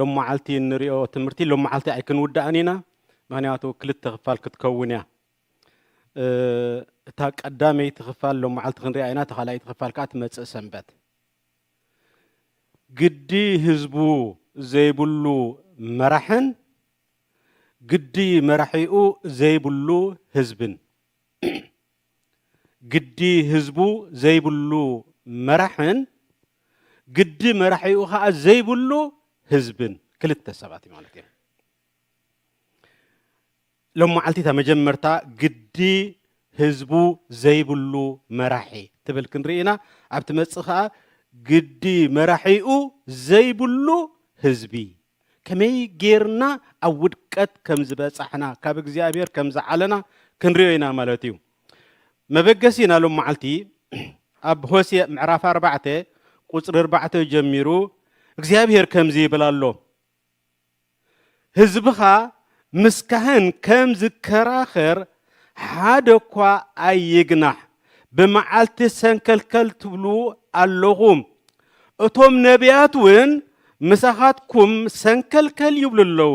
ሎማዓልቲ እንሪኦ ትምህርቲ ሎማዓልቲ ኣይክንውዳእን ኢና ምክንያቱ ክልተ ክፋል ክትከውን እያ እታ ቀዳመይቲ ክፋል ሎማዓልቲ ክንሪኣ ኢና እታ ካልኣይቲ ክፋል ከዓ ትመፅእ ሰንበት ግዲ ህዝቡ ዘይብሉ መራሕን ግዲ መራሒኡ ዘይብሉ ህዝብን ግዲ ህዝቡ ዘይብሉ መራሕን ግዲ መራሒኡ ከኣ ዘይብሉ ህዝብን ክልተ ሰባት እዩ ማለት እዮም ሎም መዓልቲ እታ መጀመርታ ግዲ ህዝቡ ዘይብሉ መራሒ ትብል ክንርኢ ኢና ኣብ ትመፅእ ከኣ ግዲ መራሒኡ ዘይብሉ ህዝቢ ከመይ ጌርና ኣብ ውድቀት ከም ዝበጻሕና፣ ካብ እግዚኣብሔር ከም ዝዓለና ክንርእዮ ኢና ማለት እዩ። መበገሲ ናይ ሎም መዓልቲ ኣብ ሆሴእ ምዕራፍ ኣርባዕተ ቁጽሪ ኣርባዕተ ጀሚሩ እግዚኣብሔር ከምዚ ይብል ኣሎ፣ ህዝብኻ ምስ ካህን ከም ዝከራኸር ሓደ እኳ ኣይግናሕ፣ ብመዓልቲ ሰንከልከል ትብሉ ኣሎኹም፣ እቶም ነብያት እውን ምሳኻትኩም ሰንከልከል ይብሉ ኣለዉ፣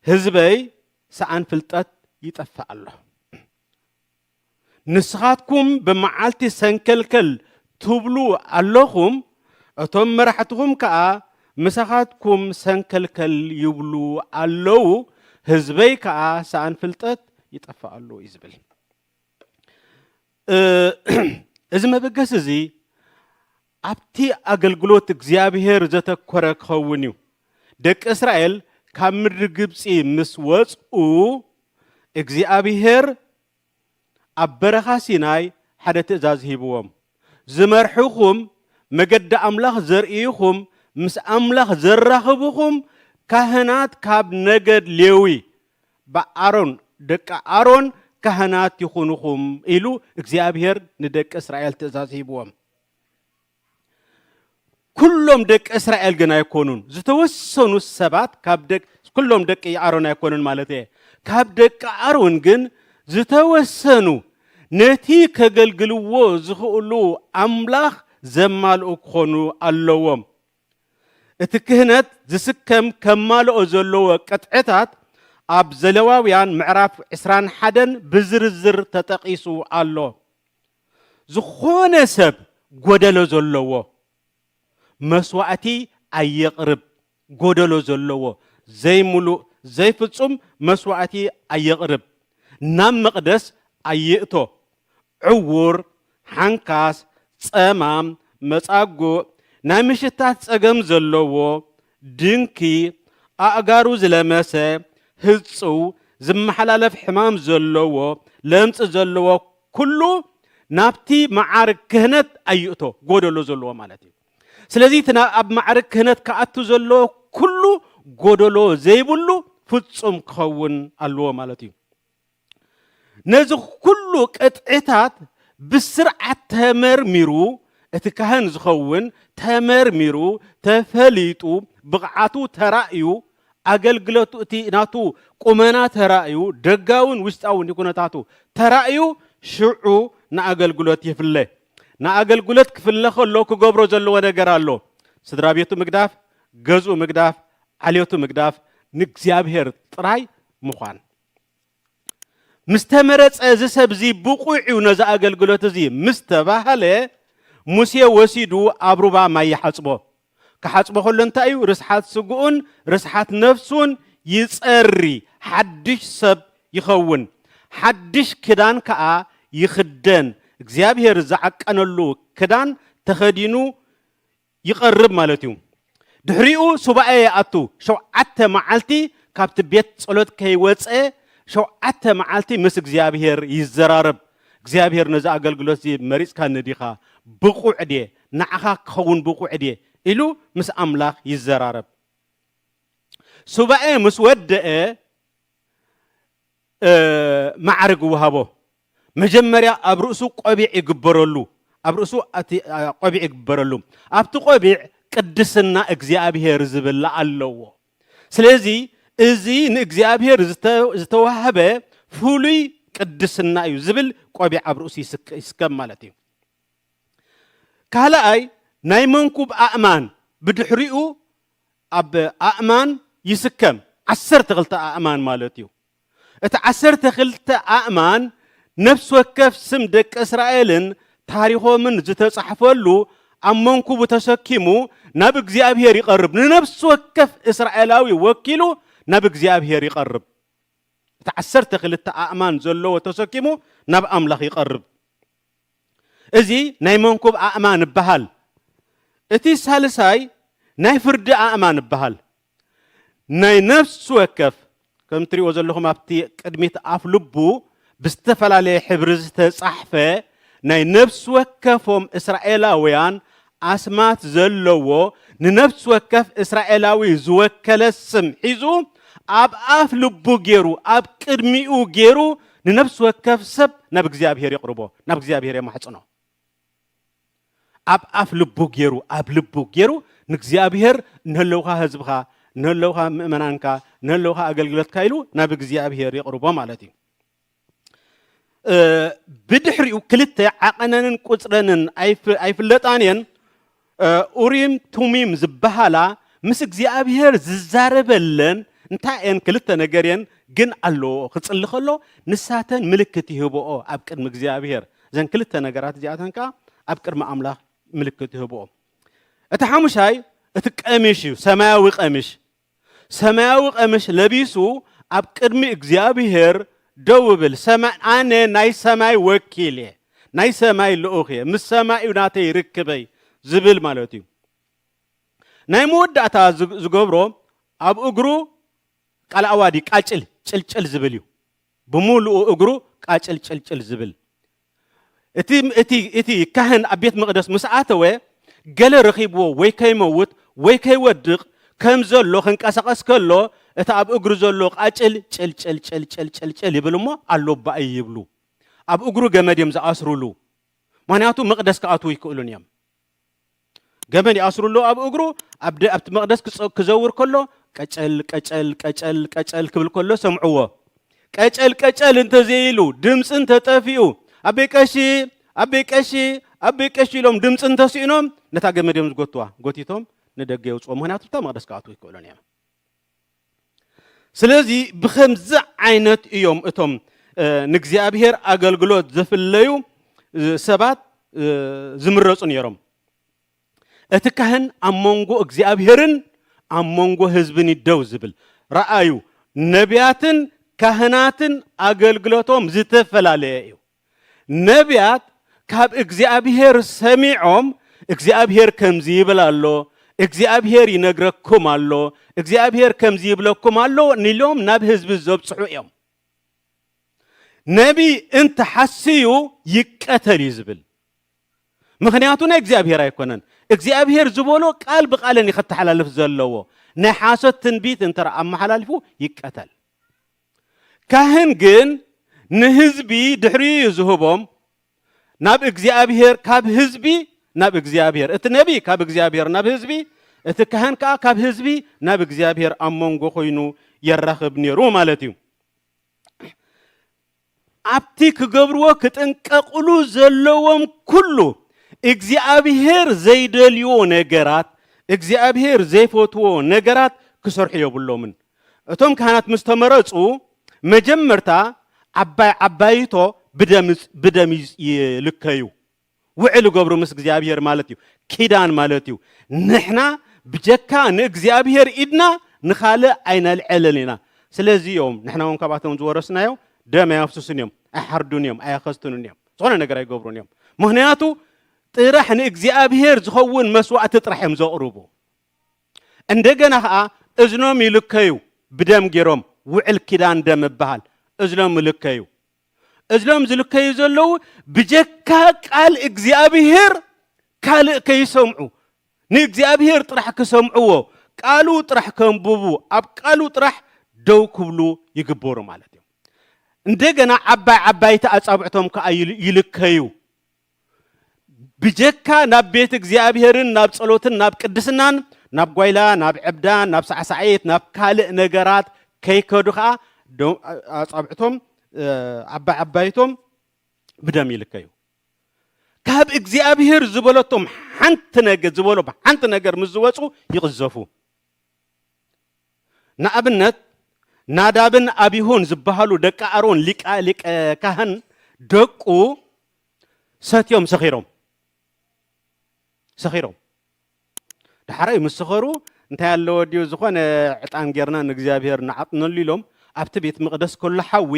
ህዝበይ ሰኣን ፍልጠት ይጠፍእ ኣሎ። ንስኻትኩም ብመዓልቲ ሰንከልከል ትብሉ ኣሎኹም፣ እቶም መራሕትኹም ከኣ ምሳኻትኩም ሰንከልከል ይብሉ ኣሎዉ፣ ህዝበይ ከኣ ሰኣን ፍልጠት ይጠፍእ ኣሎ እዩ ዝብል። እዚ መበገሲ እዚ ኣብቲ ኣገልግሎት እግዚኣብሄር ዘተኰረ ክኸውን እዩ። ደቂ እስራኤል ካብ ምድሪ ግብጺ ምስ ወጽኡ፣ እግዚኣብሄር ኣብ በረኻ ሲናይ ሓደ ትእዛዝ ሂብዎም፣ ዝመርሕኹም፣ መገዲ ኣምላኽ ዘርእይኹም፣ ምስ ኣምላኽ ዘራኽብኹም፣ ካህናት ካብ ነገድ ሌዊ፣ ብኣሮን ደቂ ኣሮን ካህናት ይኹኑኹም ኢሉ እግዚኣብሄር ንደቂ እስራኤል ትእዛዝ ሂብዎም። ኩሎም ደቂ እስራኤል ግን ኣይኮኑን፣ ዝተወሰኑ ሰባት ካብ ደቂ ኩሎም ደቂ ኣሮን ኣይኮኑን ማለት እየ። ካብ ደቂ ኣሮን ግን ዝተወሰኑ ነቲ ከገልግልዎ ዝኽእሉ ኣምላኽ ዘማልኡ ክኾኑ ኣለዎም። እቲ ክህነት ዝስከም ከማልኦ ዘለዎ ቅጥዕታት ኣብ ዘለዋውያን ምዕራፍ ዕስራን ሓደን ብዝርዝር ተጠቒሱ ኣሎ። ዝኾነ ሰብ ጎደሎ ዘለዎ መስዋእቲ ኣየቕርብ፣ ጎደሎ ዘለዎ ዘይምሉእ ዘይፍጹም መስዋእቲ ኣየቕርብ፣ ናብ መቕደስ ኣይእቶ፣ ዕዉር፣ ሓንካስ፣ ጸማም፣ መጻጉእ፣ ናይ ምሽታት ጸገም ዘለዎ፣ ድንኪ ኣእጋሩ ዝለመሰ ህጹው ዝመሓላለፍ ሕማም ዘለዎ ለምጺ ዘለዎ ኩሉ ናብቲ መዓርግ ክህነት ኣይእቶ ጎደሎ ዘለዎ ማለት እዩ ስለዚ እቲ ኣብ መዓርግ ክህነት ክኣቱ ዘለዎ ኩሉ ጎደሎ ዘይብሉ ፍጹም ክኸውን ኣለዎ ማለት እዩ ነዚ ኩሉ ቅጥዕታት ብስርዓት ተመርሚሩ እቲ ካህን ዝኸውን ተመርሚሩ ተፈሊጡ ብቕዓቱ ተራእዩ ኣገልግለቱ እቲ ናቱ ቁመና ተራእዩ ደጋውን ውሽጣውን ኩነታቱ ተራእዩ ሽዑ ንኣገልግሎት ይፍለ። ንኣገልግሎት ክፍለ ከሎ ክገብሮ ዘለዎ ነገር ኣሎ። ስድራ ቤቱ ምግዳፍ፣ ገዝኡ ምግዳፍ፣ ዓሌቱ ምግዳፍ፣ ንእግዚኣብሔር ጥራይ ምዃን። ምስ ተመረጸ እዚ ሰብ እዚ ብቑዕ እዩ ነዚ ኣገልግሎት እዚ ምስ ተባህለ ሙሴ ወሲዱ ኣብ ሩባ ማይ ይሓጽቦ። ክሓጽቦ ከሎ እንታይ እዩ ርስሓት ስግኡን ርስሓት ነፍሱን ይጸሪ፣ ሓድሽ ሰብ ይኸውን፣ ሓድሽ ክዳን ከኣ ይኽደን፣ እግዚኣብሄር ዝዓቀነሉ ክዳን ተኸዲኑ ይቐርብ ማለት እዩ። ድሕሪኡ ሱባኤ ይኣቱ፣ ሸውዓተ መዓልቲ ካብቲ ቤት ጸሎት ከይወጸ ሸውዓተ መዓልቲ ምስ እግዚኣብሄር ይዘራረብ፣ እግዚኣብሄር ነዚ ኣገልግሎት እዚ መሪጽካኒ ዲኻ? ብቑዕ ድየ? ንዓኻ ክኸውን ብቑዕ ድየ? ኢሉ ምስ ኣምላኽ ይዘራረብ። ሱባኤ ምስ ወደኣ፣ ማዕርግ እወሃቦ። መጀመርያ ኣብ ርእሱ ቆቢዕ ይግበረሉ፣ ኣብ ርእሱ እቲ ቆቢዕ ይግበረሉ። ኣብቲ ቆቢዕ ቅድስና እግዚኣብሔር ዝብል ኣለዎ። ስለዚ እዚ ንእግዚኣብሔር ዝተዋህበ ፍሉይ ቅድስና እዩ ዝብል ቆቢዕ ኣብ ርእሱ ይስከም ማለት እዩ። ካልኣይ ናይ መንኩብ ኣእማን ብድሕሪኡ ኣብ ኣእማን ይስከም፣ ዓሰርተ ክልተ ኣእማን ማለት እዩ። እቲ ዓሰርተ ክልተ ኣእማን ነፍሲ ወከፍ ስም ደቂ እስራኤልን ታሪኾምን ዝተጻሕፈሉ ኣብ መንኩቡ ተሰኪሙ ናብ እግዚኣብሄር ይቐርብ። ንነፍሲ ወከፍ እስራኤላዊ ወኪሉ ናብ እግዚኣብሄር ይቐርብ። እቲ ዓሰርተ ክልተ ኣእማን ዘለዎ ተሰኪሙ ናብ ኣምላኽ ይቐርብ። እዚ ናይ መንኩብ ኣእማን እበሃል። እቲ ሳልሳይ ናይ ፍርዲ ኣእማን እበሃል። ናይ ነፍሲ ወከፍ ከም እትሪእዎ ዘለኹም ኣብቲ ቅድሚት ኣፍ ልቡ ብዝተፈላለየ ሕብሪ ዝተጻሕፈ ናይ ነፍሲ ወከፎም እስራኤላውያን ኣስማት ዘለዎ ንነፍሲ ወከፍ እስራኤላዊ ዝወከለ ስም ሒዙ ኣብ ኣፍ ልቡ ገይሩ ኣብ ቅድሚኡ ገይሩ ንነፍሲ ወከፍ ሰብ ናብ እግዚኣብሄር የቕርቦ ናብ እግዚኣብሄር የማሕጽኖ ኣብ ኣፍ ልቡ ገይሩ ኣብ ልቡ ገይሩ ንእግዚኣብሄር እንህለውካ ህዝብኻ እንህለውካ ምእመናንካ እንህለውካ ኣገልግሎትካ ኢሉ ናብ እግዚኣብሄር የቕርቦ ማለት እዩ ብድሕሪኡ ክልተ ዓቐነንን ቁፅረንን ኣይፍለጣን እየን ኡሪም ቱሚም ዝበሃላ ምስ እግዚኣብሄር ዝዛረበለን እንታይ እየን ክልተ ነገር እየን ግን ኣለዎ ክፅሊ ከሎ ንሳተን ምልክት ይህብኦ ኣብ ቅድሚ እግዚኣብሄር እዘን ክልተ ነገራት እዚኣተን ከዓ ኣብ ቅድሚ ኣምላኽ ምልክት ይህብኦ እቲ ሓሙሻይ እቲ ቀሚሽ እዩ ሰማያዊ ቀሚሽ ሰማያዊ ቀምሽ ለቢሱ ኣብ ቅድሚ እግዚኣብሄር ደው እብል ሰማይ ኣነ ናይ ሰማይ ወኪል እየ ናይ ሰማይ ልኡኽ እየ ምስ ሰማይ እዩ ናተይ ርክበይ ዝብል ማለት እዩ ናይ መወዳእታ ዝገብሮ ኣብ እግሩ ቃል ኣዋዲ ቃጭል ጭልጭል ዝብል እዩ ብምሉኡ እግሩ ቃጭል ጭልጭል ዝብል እቲ ካህን ኣብ ቤት መቕደስ ምስ ኣተወ ገለ ረኺብዎ ወይ ከይመውት ወይ ከይወድቕ ከም ዘሎ ክንቀሳቐስ ከሎ እቲ ኣብ እግሩ ዘሎ ቃጭል ጭልጭልጭልጭልጭልጭል ይብል እሞ ኣሎ ባእይ ይብሉ ኣብ እግሩ ገመድ እዮም ዝኣስሩሉ ምክንያቱ መቕደስ ክኣትዉ ኣይክእሉን እዮም ገመድ ይኣስሩሉ ኣብ እግሩ ኣብ ኣብቲ መቕደስ ክዘውር ከሎ ቀጨል ቀጨል ቀጨል ቀጨል ክብል ከሎ ሰምዕዎ ቀጨል ቀጨል እንተዘይሉ ድምፂ እንተጠፊኡ ኣቤ ቀሺ ኣቤ ቀሺ ኣቤ ቀሺ ኢሎም ድምፂ እንተስኢኖም ነታ ገመድ እዮም ዝጎትዋ ጎቲቶም ንደገ የውፅኦ ምክንያቱ እታ መቕደስ ክኣትዉ ይክእሎን እዮም ስለዚ ብከምዚ ዓይነት እዮም እቶም ንእግዚኣብሔር ኣገልግሎት ዘፍለዩ ሰባት ዝምረጹ ነይሮም። እቲ ካህን ኣብ መንጎ እግዚኣብሔርን ኣብ መንጎ ህዝብን እዩ ደው ዝብል። ረኣዩ፣ ነቢያትን ካህናትን ኣገልግሎቶም ዝተፈላለየ እዩ። ነብያት ካብ እግዚኣብሄር ሰሚዖም እግዚኣብሄር ከምዚ ይብል ኣሎ፣ እግዚኣብሄር ይነግረኩም ኣሎ፣ እግዚኣብሄር ከምዚ ይብለኩም ኣሎ ንኢሎም ናብ ህዝቢ ዘብጽሑ እዮም። ነቢይ እንተሓስዩ ይቀተል እዩ ዝብል ምክንያቱ ናይ እግዚኣብሄር ኣይኮነን። እግዚኣብሄር ዝበሎ ቃል ብቃለን እዩ ከተሓላልፍ ዘለዎ። ናይ ሓሶት ትንቢት እንተ ኣመሓላልፉ ይቀተል። ካህን ግን ንህዝቢ ድሕሪኡ እዩ ዝህቦም ናብ እግዚኣብሔር ካብ ህዝቢ ናብ እግዚኣብሔር እቲ ነቢ ካብ እግዚኣብሔር ናብ ህዝቢ እቲ ካህን ከዓ ካብ ህዝቢ ናብ እግዚኣብሔር ኣብ መንጎ ኮይኑ የራኽብ ነይሩ ማለት እዩ ኣብቲ ክገብርዎ ክጥንቀቕሉ ዘለዎም ኩሉ እግዚኣብሄር ዘይደልዎ ነገራት፣ እግዚኣብሄር ዘይፈትዎ ነገራት ክሰርሑ የብሎምን። እቶም ካህናት ምስ ተመረጹ መጀመርታ ዓባይ ዓባይቶ ብደም ብደም ይልከዩ። ውዕል እገብሩ ምስ እግዚኣብሄር ማለት እዩ ኪዳን ማለት እዩ ንሕና ብጀካ ንእግዚኣብሄር ኢድና ንኻልእ ኣይነልዕልን ኢና ስለዚ እዮም ንሕና እውን ካብኣቶም ዝወረስናዮ ደም ኣየፍስሱን እዮም ኣይሓርዱን እዮም ኣየኸስትኑን እዮም ዝኾነ ነገር ኣይገብሩን እዮም ምክንያቱ ጥራሕ ንእግዚኣብሄር ዝኸውን መስዋእቲ ጥራሕ እዮም ዘቕርቡ እንደገና ከዓ እዝኖም ይልከዩ ብደም ገይሮም ውዕል ኪዳን ደም እበሃል እዝኖም ይልከዩ እዞም ዝልከዩ ዘለዉ ብጀካ ቃል እግዚኣብሄር ካልእ ከይሰምዑ ንእግዚኣብሄር ጥራሕ ክሰምዕዎ ቃሉ ጥራሕ ከንብቡ ኣብ ቃሉ ጥራሕ ደው ክብሉ ይግበሩ ማለት እዮም። እንደገና ዓባይ ዓባይቲ ኣጻብዕቶም ከኣ ይልከዩ። ብጀካ ናብ ቤት እግዚኣብሔርን ናብ ጸሎትን ናብ ቅድስናን ናብ ጓይላ ናብ ዕብዳ ናብ ሳዕሳዒት ናብ ካልእ ነገራት ከይከዱ ከዓ ኣጻብዕቶም ዓባይ ዓባይቶም ብደም ይልከዩ ካብ እግዚኣብሔር ዝበለቶም ሓንቲ ነገር ዝበሎ ሓንቲ ነገር ምስ ዝወፁ ይቕዘፉ ንኣብነት ናዳብን ኣብሆን ዝበሃሉ ደቂ ኣሮን ሊቀ ካህን ደቁ ሰትዮም ሰኺሮም ሰኺሮም ዳሓራይ ምስ ሰኸሩ እንታይ ኣለዎ ድዩ ዝኾነ ዕጣን ጌርና ንእግዚኣብሄር ንዓጥነሉ ኢሎም ኣብቲ ቤት መቕደስ ከሎ ሓዊ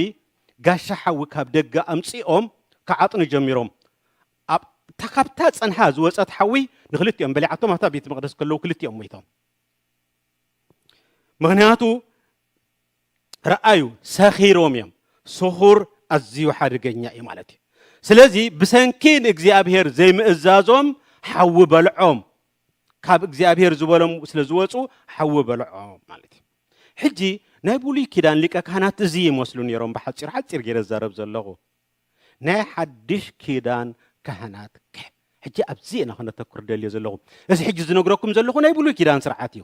ጋሻ ሓዊ ካብ ደገ ኣምፂኦም ክዓጥኑ ጀሚሮም ኣብታ ካብታ ፀንሓ ዝወፀት ሓዊ ንክልቲኦም በሊዓቶም ኣብታ ቤት መቕደስ ከለዉ ክልቲኦም ሞይቶም ምክንያቱ ረኣዩ ሰኺሮም እዮም ስኹር ኣዝዩ ሓደገኛ እዩ ማለት እዩ ስለዚ ብሰንኪ ንእግዚኣብሄር ዘይምእዛዞም ሓዊ በልዖም ካብ እግዚኣብሄር ዝበሎም ስለ ዝወፁ ሓዊ በልዖም ማለት እዩ ሕጂ ናይ ብሉይ ኪዳን ሊቀ ካህናት እዚ ይመስሉ ነይሮም ብሓፂር ሓፂር ገይረ ዝዛረብ ዘለኹ ናይ ሓድሽ ኪዳን ካህናት ከ ሕጂ ኣብዚ ኢና ክነተኩር ደልዮ ዘለኹ እዚ ሕጂ ዝነግረኩም ዘለኹ ናይ ብሉይ ኪዳን ስርዓት እዩ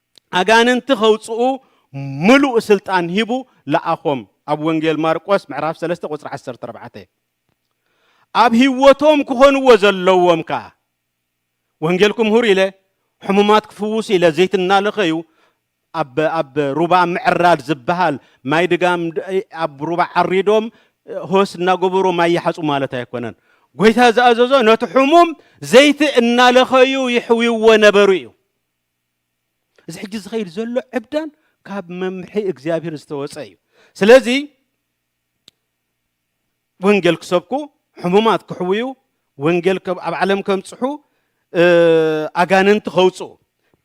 ኣጋንንቲ ከውጽኡ ምሉእ ስልጣን ሂቡ ለኣኾም ኣብ ወንጌል ማርቆስ ምዕራፍ ሰለስተ ቁጽሪ ዓሰርተ ኣርባዕተ ኣብ ህይወቶም ክኾንዎ ዘለዎም ከኣ ወንጌል ክምህሩ ኢለ ሕሙማት ክፍውሱ ኢለ ዘይት እናለኸዩ ኣብ ኣብ ሩባ ምዕራድ ዝበሃል ማይ ድጋም ኣብ ሩባ ዓሪዶም ሆስ እናገበሩ ማይ ይሓጹ ማለት ኣይኮነን ጎይታ ዝኣዘዞ ነቲ ሕሙም ዘይቲ እናለኸዩ ይሕውይዎ ነበሩ እዩ እዚ ሕጂ ዝኸይድ ዘሎ ዕብዳን ካብ መምርሒ እግዚኣብሔር ዝተወፀ እዩ ስለዚ ወንጌል ክሰብኩ ሕሙማት ክሕውዩ ወንጌል ኣብ ዓለም ከምፅሑ ኣጋንንቲ ከውፅኡ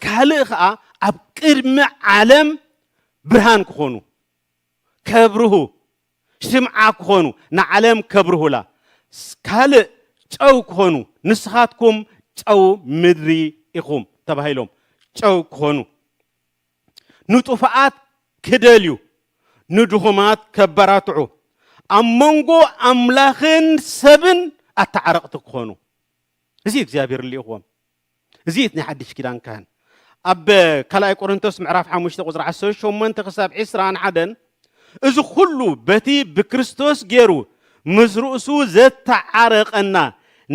ካልእ ከዓ ኣብ ቅድሚ ዓለም ብርሃን ክኾኑ ከብርሁ ሽምዓ ክኾኑ ንዓለም ከብርሁላ ካልእ ጨው ክኾኑ ንስኻትኩም ጨው ምድሪ ኢኹም ተባሂሎም ጨው ክኾኑ ንጡፋኣት ክደልዩ ንድኹማት ከበራትዑ ኣብ መንጎ ኣምላኽን ሰብን ኣተዓረቕቲ ክኾኑ እዚ እግዚኣብሔር ልኢኽዎም እዚ እቲ ናይ ሓድሽ ኪዳን ካህን ኣብ ካልኣይ ቆሮንቶስ ምዕራፍ ሓሙሽተ ቁፅሪ ዓሰርተ ሸሞንተ ክሳብ ዕስራን ሓደን እዚ ኩሉ በቲ ብክርስቶስ ገይሩ ምስ ርእሱ ዘተዓረቀና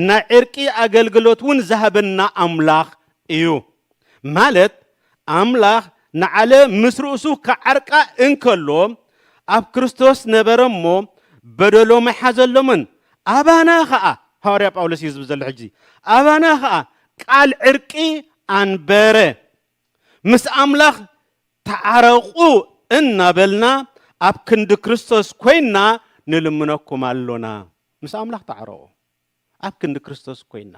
ናይ ዕርቂ ኣገልግሎት እውን ዝሃበና ኣምላኽ እዩ ማለት ኣምላኽ ንዓለም ምስ ርእሱ ክዓርቃ እንከሎ ኣብ ክርስቶስ ነበረ እሞ በደሎም ኣይሓዘሎምን። ኣባና ኸኣ፣ ሃዋርያ ጳውሎስ እዩ ዝብል ዘሎ ሕጂ፣ ኣባና ኸኣ ቃል ዕርቂ ኣንበረ። ምስ ኣምላኽ ተዓረቑ እናበልና ኣብ ክንዲ ክርስቶስ ኮይንና ንልምነኩም ኣሎና። ምስ ኣምላኽ ተዓረቑ። ኣብ ክንዲ ክርስቶስ ኮይና።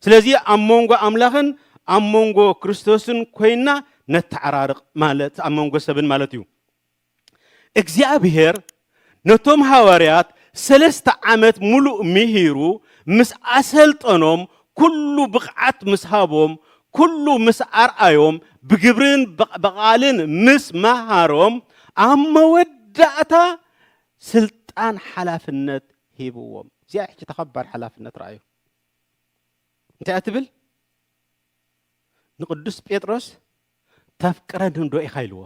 ስለዚ ኣብ መንጎ ኣምላኽን ኣብ መንጎ ክርስቶስን ኮይና ነተዓራርቕ ማለት ኣብ መንጎ ሰብን ማለት እዩ። እግዚኣብሔር ነቶም ሃዋርያት ሰለስተ ዓመት ምሉእ ምሂሩ ምስ ኣሰልጠኖም ኩሉ ብቕዓት ምስ ሃቦም ኩሉ ምስ ኣርኣዮም ብግብርን ብቓልን ምስ መሃሮም ኣብ መወዳእታ ስልጣን ሓላፍነት ሂብዎም። እዚኣ ሕጂ እታ ከባድ ሓላፍነት ርኣዩ። እንታይ እያ ትብል? ንቅዱስ ጴጥሮስ ተፍቅረኒዶ ኢኻ ኢልዎ።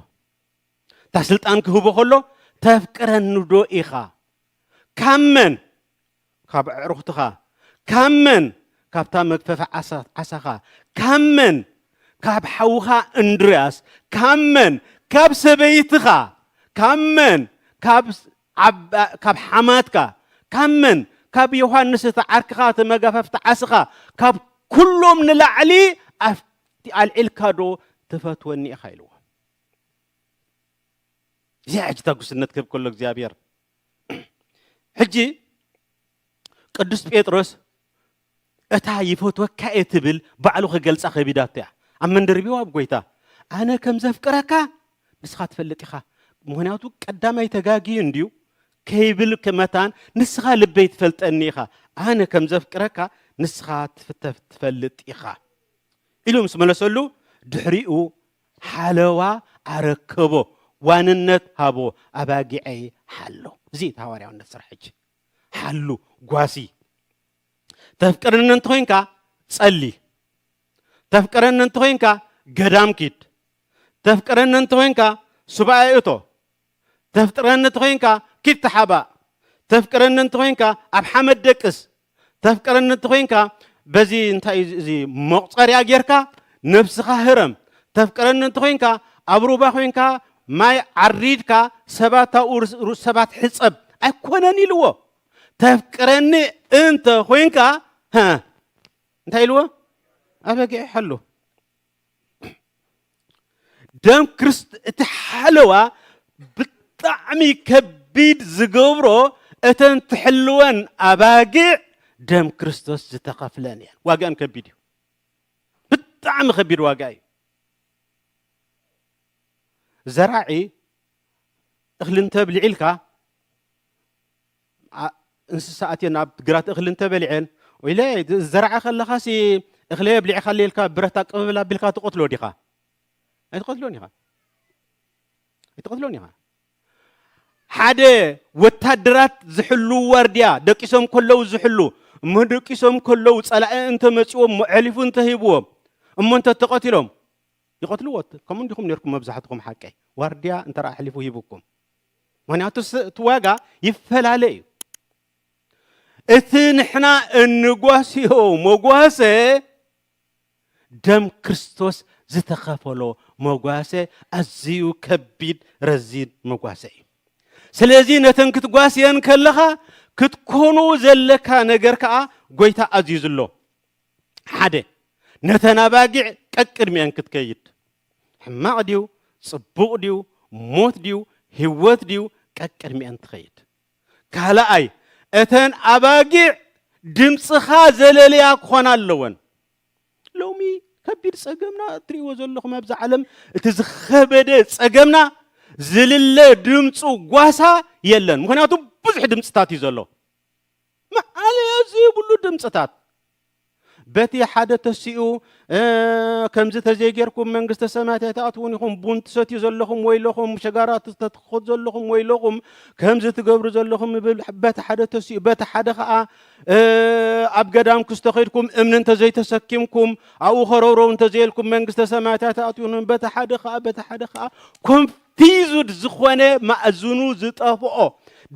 እታ ስልጣን ክህቦ ከሎ ተፍቅረኒዶ ኢኻ ካብ መን ካብ ኣዕሩኽትኻ ካብ መን ካብታ መግፈፊ ዓሳኻ ካብ መን ካብ ሓውኻ እንድርያስ ካብ መን ካብ ሰበይትኻ ካብ መን ካብ ኣብ ካብ ሓማትካ ካብ መን ካብ ዮሃንስ እቲ ዓርክኻ እቲ መጋፈፍቲ ዓስኻ ካብ ኩሎም ንላዕሊ ኣፍ ኣልዒልካ ዶ ትፈትወኒ ኢኻ ኢልዎ እዚ ሕጂ ተጉስነት ክህብ ከሎ እግዚኣብሔር ሕጂ ቅዱስ ጴጥሮስ እታ ይፈትወካ'የ ትብል ባዕሉ ክገልጻ ከቢዳቶ'ያ። ኣብ መንደርቢው ኣብ ጎይታ ኣነ ከም ዘፍቅረካ ንስኻ ትፈልጥ ኢኻ ምኽንያቱ ቀዳማይ ተጋግዩ እንድዩ ከይብል መታን ንስኻ ልበይ ትፈልጠኒ ኢኻ ኣነ ከም ዘፍቅረካ ንስኻ ትፍተፍ ትፈልጥ ኢኻ ኢሉ ምስ መለሰሉ ድሕሪኡ ሓለዋ ኣረከቦ ዋንነት ሃቦ ኣባጊዐይ ሓሎ እዚ እቲ ሃዋርያውነት ስራሕ ሕጂ ሓሉ ጓሲ ተፍቅረኒ እንተኾይንካ ጸሊ ተፍቅረኒ እንተኾይንካ ገዳም ኪድ ተፍቅረኒ እንተኾይንካ ሱባኤ እቶ ተፍቅረኒ እንተኾይንካ ኪድ ተሓባእ ተፍቅረኒ እንተኾይንካ ኣብ ሓመድ ደቅስ ተፍቅረኒ እንተኾይንካ በዚ እንታይ እዚ መቑፀርያ ጌርካ ነብስኻ ህረም ተፍቅረኒ እንተኾይንካ ኣብ ሩባ ኮንካ ማይ ዓሪድካ ሰባት ኣብኡ ሰባት ሕፀብ ኣይኮነን ኢልዎ ተፍቅረኒ እንተ ኮንካ እንታይ ኢልዎ ኣበጊዕ ሓሉ ደም ክርስት እቲ ሓለዋ ብጣዕሚ ከቢድ ዝገብሮ እተን ትሕልወን ኣባጊዕ ደም ክርስቶስ ዝተኸፍለን እየን ዋጋን ከቢድ እዩ ብጣዕሚ ከቢድ ዋጋ እዩ ዘራዒ እኽሊ እንተብሊዒልካ እንስሳ ኣትየን ኣብ ግራት እኽሊ እንተበሊዐን ወይለ ዝዘራዐ ከለኻሲ እኽሊ የብሊዕኻለ ኢልካ ብረት ኣቅብብል ኣቢልካ ትቐትሎ ዲኻ ኣይትቐትሎን ኢኻ ኣይትቐትሎን ኢኻ ሓደ ወታደራት ዝሕሉ ዋርድያ ደቂሶም ከለዉ ዝሕሉ እሞ ደቂሶም ከለዉ ጸላኢ እንተመጺዎም መዕሊፉ እንተሂብዎም እሞ እንተ ተቐቲሎም ይቐትልዎ ከምኡ እንዲኹም ነርኩም መብዛሕትኹም ሓቀይ ዋርድያ እንተ ኣሕሊፉ ሂብኩም ምክንያቱ እቲ ዋጋ ይፈላለ እዩ እቲ ንሕና እንጓስዮ መጓሰ ደም ክርስቶስ ዝተኸፈሎ መጓሰ ኣዝዩ ከቢድ ረዚን መጓሰ እዩ ስለዚ ነተን ክትጓስየን ከለኻ ክትኮኑ ዘለካ ነገር ከዓ ጎይታ ኣዝዩ ዝሎ ሓደ ነተን ኣባጊዕ ቀቅድሚአን ክትከይድ ሕማቕ ድዩ ጽቡቕ ድዩ ሞት ድዩ ህይወት ድዩ ቀቅድሚኤን ትኸይድ ካልኣይ እተን ኣባጊዕ ድምጽኻ ዘለልያ ክኾና ኣለወን ሎሚ ከቢድ ጸገምና እትርእይዎ ዘለኹም ኣብዚ ዓለም እቲ ዝኸበደ ጸገምና ዝልለ ድምፁ ጓሳ የለን ምክንያቱ ብዙሕ ድምፅታት እዩ ዘሎ መኣለያ ዘይብሉ ድምፅታት በቲ ሓደ ተሲኡ ከምዚ ተዘይጌርኩም መንግስተ ሰማያት ኣይትኣትውን ኢኹም ቡን ትሰትዩ ዘለኹም ወይለኹም ሸጋራ ተትክኹት ዘለኹም ወይለኹም ከምዚ ትገብሩ ዘለኹም ይብል በቲ ሓደ ተሲኡ በቲ ሓደ ከዓ ኣብ ገዳም ክስተኸድኩም እምኒ እንተዘይተሰኪምኩም ኣብኡ ከረውረው እንተዘየልኩም መንግስተ ሰማያት ኣይትኣትውን በቲ ሓደ ከዓ በቲ ሓደ ከዓ ኮንፍ ፒዙድ ዝኾነ ማእዝኑ ዝጠፍኦ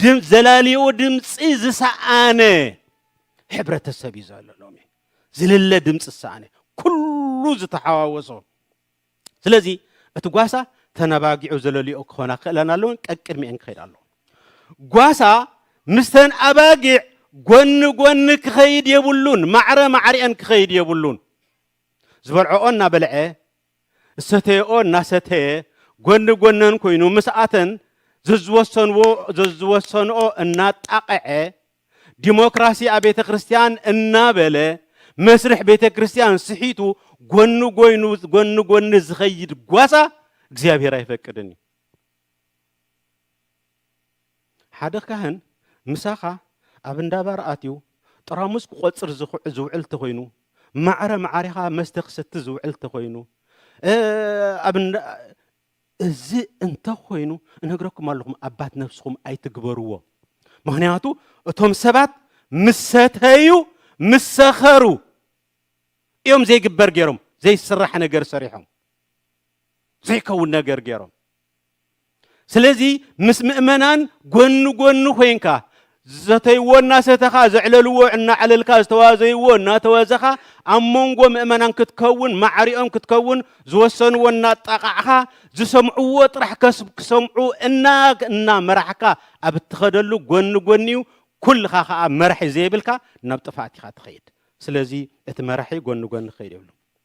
ድም ዘላሊኡ ድምፂ ዝሰኣነ ሕብረተሰብ እዩ ዘሎ ሎሚ ዝልለ ድምፂ ዝሰኣነ ኩሉ ዝተሓዋወሶ ስለዚ እቲ ጓሳ ተነባጊዑ ዘለልኦ ክኾና ክእለን ኣለውን ቀቅድሚኤን ክኸይድ ኣለዎ ጓሳ ምስተን ኣባጊዕ ጎኒ ጎኒ ክኸይድ የብሉን ማዕረ ማዕሪኤን ክኸይድ የብሉን ዝበልዐኦ እናበልዐ ዝሰተየኦ እናሰተየ ጎኒ ጎነን ኮይኑ ምስኣተን ዘዝወሰንዎ ዘዝወሰንኦ እናጣቐዐ ዲሞክራሲ ኣብ ቤተ ክርስቲያን እናበለ መስርሕ ቤተ ክርስቲያን ስሒቱ ጎኒ ጎይኑ ጎኒ ጎኒ ዝኸይድ ጓሳ እግዚኣብሔር ኣይፈቅድን እዩ። ሓደ ካህን ምሳኻ ኣብ እንዳ ባር ኣትዩ ጥራሙስ ክቆጽር ዝውዕል ተኾይኑ፣ ማዕረ ማዕሪኻ መስተ ክሰቲ ዝውዕል ተኾይኑ፣ ኣብ እንዳ እዚ እንተ ኾይኑ እነግረኩም ኣለኹም ኣባት ነብስኹም ኣይትግበርዎ። ምክንያቱ እቶም ሰባት ምስ ሰተዩ ምስ ሰኸሩ እዮም ዘይግበር ገይሮም ዘይስራሕ ነገር ሰሪሖም ዘይከውን ነገር ገይሮም ስለዚ ምስ ምእመናን ጎኒ ጎኒ ኮይንካ ዝሰተይዎ እናሰተኻ ዘዕለልዎ እናዕለልካ ዝተዋዘይዎ እናተወዘኻ ኣብ መንጎ ምእመናን ክትከውን ማዕሪኦም ክትከውን ዝወሰንዎ እናጣቓዕኻ ዝሰምዕዎ ጥራሕ ከስብ ክሰምዑ እና እና መራሕካ ኣብ እትኸደሉ ጎኒ ጎኒዩ ኩልኻ ከዓ መራሒ ዘይብልካ ናብ ጥፍኣት ኢኻ ትኸይድ ስለዚ እቲ መራሒ ጎኒ ጎኒ ክኸይድ የብሉ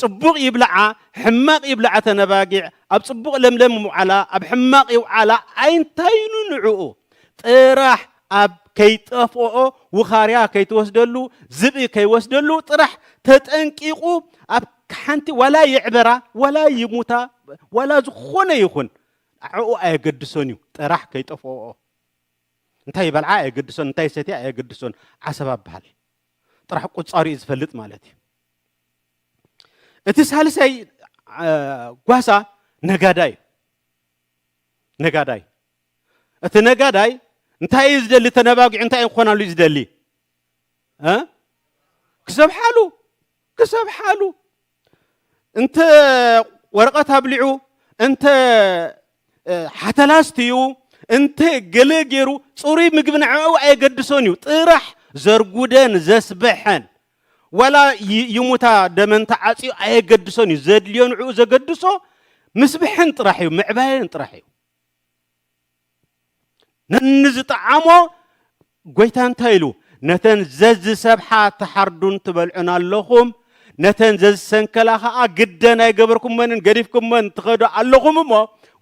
ጽቡቕ ይብልዓ ሕማቕ ይብልዓ እተን ኣባጊዕ ኣብ ጽቡቕ ለምለም ምውዓላ ኣብ ሕማቕ ይውዓላ ኣይንታይኑ ንዕኡ ጥራሕ ኣብ ከይጠፍኦኦ ውኻርያ ከይትወስደሉ ዝብኢ ከይወስደሉ ጥራሕ ተጠንቂቑ ኣብ ሓንቲ ዋላ ይዕበራ ዋላ ይሙታ ዋላ ዝኾነ ይኹን ኣዕኡ ኣየገድሶን እዩ ጥራሕ ከይጠፍኦኦ እንታይ ይበልዓ ኣየገድሶን እንታይ ሰትያ ኣየገድሶን ዓሰብ ኣበሃል ጥራሕ ቁጻሩ እዩ ዝፈልጥ ማለት እዩ እቲ ሳልሳይ ጓሳ ነጋዳይ ነጋዳይ እቲ ነጋዳይ እንታይ እዩ ዝደሊ ተነባጊዑ እንታይ እዩ ክኾናሉ እዩ ዝደሊ ክሰብሓሉ ክሰብሓሉ እንተ ወረቐት ኣብሊዑ እንተ ሓተላስትዩ እንተ ገለ ገይሩ ፅሩይ ምግቢ ንዕኡ ኣየገድሶን እዩ ጥራሕ ዘርጉደን ዘስበሐን ዋላ ይሙታ ደመን ተዓጽዩ ኣየገድሶን እዩ ዘድልዮ ንዕኡ ዘገድሶ ምስብሕን ጥራሕ እዩ ምዕባየን ጥራሕ እዩ ነንዝጠዓሞ ጎይታ እንታይ ኢሉ ነተን ዘዝሰብሓ ትሓርዱን ትበልዑን ኣለኹም ነተን ዘዝሰንከላ ከዓ ግደን ኣይገበርኩመንን ገዲፍኩመን ትኸዱ ኣለኹም እሞ